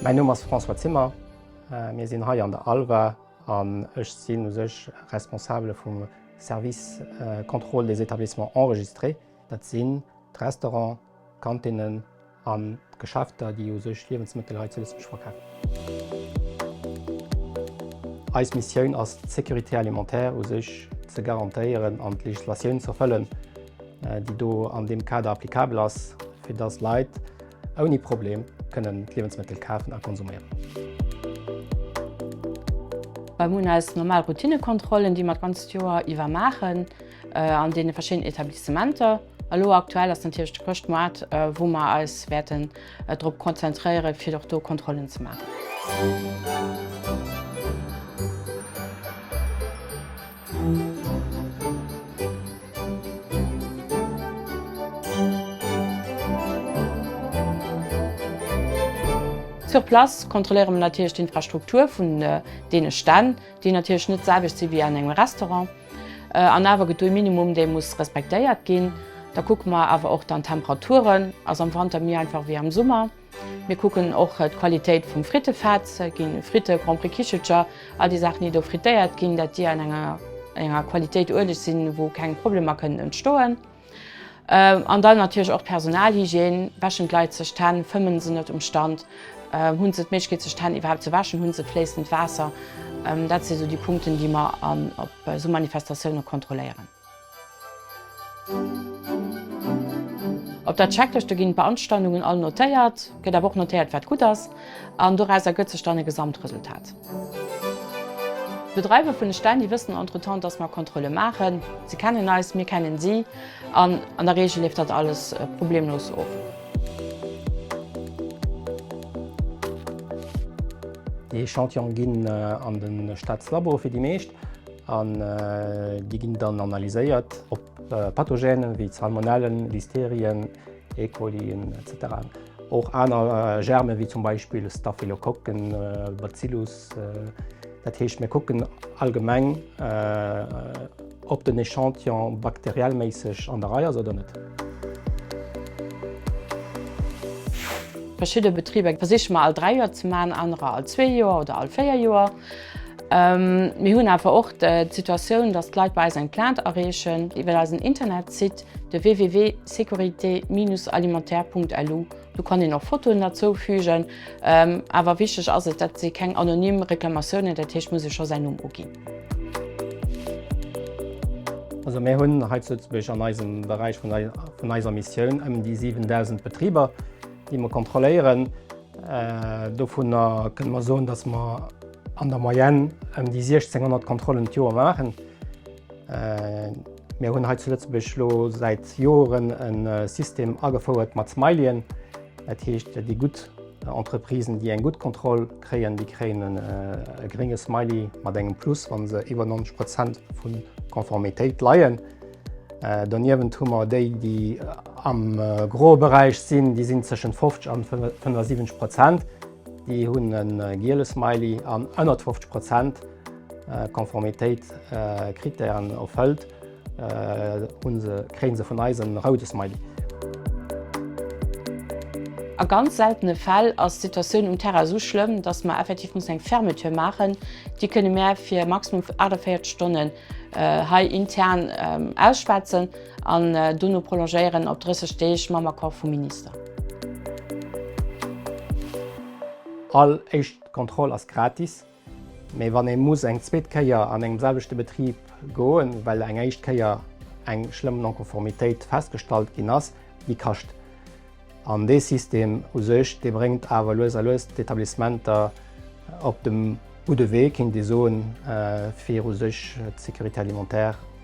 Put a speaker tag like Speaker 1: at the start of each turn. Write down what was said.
Speaker 1: Mäin Numm ass François Zimmer, mir sinn hei an der Alva an ech sinn u sech Responsabele vum Service Contrôle des établissements enregistrés. Dat sinn d'Restauranten, d'Kantinnen. A Geschäfter, déi u sech Liewensmëttel hei zu Lëtzebuerg verkafen. Eis Missioun ass et, d'Sécurité alimentaire u sech ze garantéieren an d'Legislatioun ze erfëllen, déi do an deem Kader applicabel ass, fir dass Leit ouni Problem kënnen d'Liewensmëttel kafen a konsumieren.
Speaker 2: Mir hunn eis normal Routinekontrollen, déi mer d'ganzt Joer iwwer maachen an deene verschiddenen Etablissementer. Elo aktuell ass natierlech de Chrëschtmoart, wou mer eis wäerten drop konzentréieren, fir och do Kontrollen ze maachen. Sur place kontrolléiere mer natierlech d'Infrastruktur vun deene Stänn. déi natierlech net d'selwecht si wéi an engem Restaurant, an awer gëtt do e Minimum, dee muss respektéiert ginn. Da kucke mer awer och dann d'Temperaturen, ass am Wanter méi einfach wéi am Summer. Mir kucken och d'Qualitéit vum Frittefett, gi Fritte, Grand Prix Kichelcher, all déi Saachen, déi do frittéiert ginn, dat déi an enger Qualitéit ueleg sinn, wou keng Problemer kënnen entstoen. An dann natierlech och d'Personalhygiène, Wäschen d'Leit sech d'Hänn, fëmmen se net um Stand, hunn se d'Méiglechkeet sech d'Hänn iwwerhaapt ze wäschen, hunn se fléissend Waasser? Dat si sou déi Punkten, déi mer op sou Manifestatioune kontrolléieren. Op der Checklëschte ginn d'Beanstandungen all notéiert, gëtt awer och notéiert wat gutt ass an doraus ergëtt sech dann e Gesamtresultat. D'Bedreiwer vun de Stänn, déi wëssen entretemps, dass mer Kontrolle maachen. Se kennen eis, mir kennen si an an der Regel leeft dat alles problemlos of.
Speaker 1: Déi Echantillone ginn an de Staatslabo fir déi meescht an déi ginn dann analyséiert op Pathogène wéi Salmonellen, Listerien, E. coli etc. Och aner Germen, wéi zum Beispill Staphylokokken, Bacillus. Dat heescht, mir kucken allgemeng, ob den Echantillon bakteriellméisseg an der Rei ass oder net.
Speaker 2: Verschidde Betriber versiche mer all dräi Joer ze maachen, anerer all zwee Joer oder all véier Joer. Mir hunn awer och d'Situatioun, dass d'Leit bei eis eng Plainte areechen iwwer eisen Internetsite. de www.securite-alimentaire.lu. Do kann een och Fotoen derzou fügen. Awer wichteg ass et, dat si keng anonym Reklamatiounen, dat heescht, et muss ee scho säin Numm uginn.
Speaker 1: Also mir hunn hei zu Lëtzebuerg an eisem Beräich vun eiser Missioun ëm déi 7.000 Betriber, déi mer kontrolléieren. Dovunner kënne mer soen, dass mer an der Moyenne ëm déi 1.600 Kontrollen d'Joer maachen. Mir hunn hei zu Lëtzebuerg elo säit Joren e System agefouert mat Smiley'en. Dat heescht, déi gutt Entreprisen, déi eng gutt Kontroll kréien, déi kréien e grénge Smiley mat engem Plus, wa se iwwer 90 Prozent vu Konformitéit leien. Doniewent hu mer déi, déi am groe Beräich sinn, déi sinn tëschent 50 an 75 Prozent, déi hunn e giele Smiley an ënnert 50 Prozent, Konformitéit Krittären erfëllt hunn se kréien se vun eis en roude Smiley.
Speaker 2: A ganz seltene Fäll ass d'Situatioun um Terrain esou schlëmm, dass mer effektiv mussen eng Fermeture maachen. Déi kënne mär fir maximum 48 Stonnen hei intern ausschwätzen an dono prolongéieren op 30 Deeg mam Accord vum Minister.
Speaker 1: All éischt Kontroll ass gratis. Mee wann ee muss eng zweet Kéier an engem selwechte Betrib goen, well eng éischt Kéier eng schlëmm Non-Konformitéit festgestallt ginn ass, déi kascht. An dee System u sech, dee bréngt awer lues a lues d'Etablissementer op de gudde Wee, kéint ee soen, fir u sech d'Sécurité alimentaire,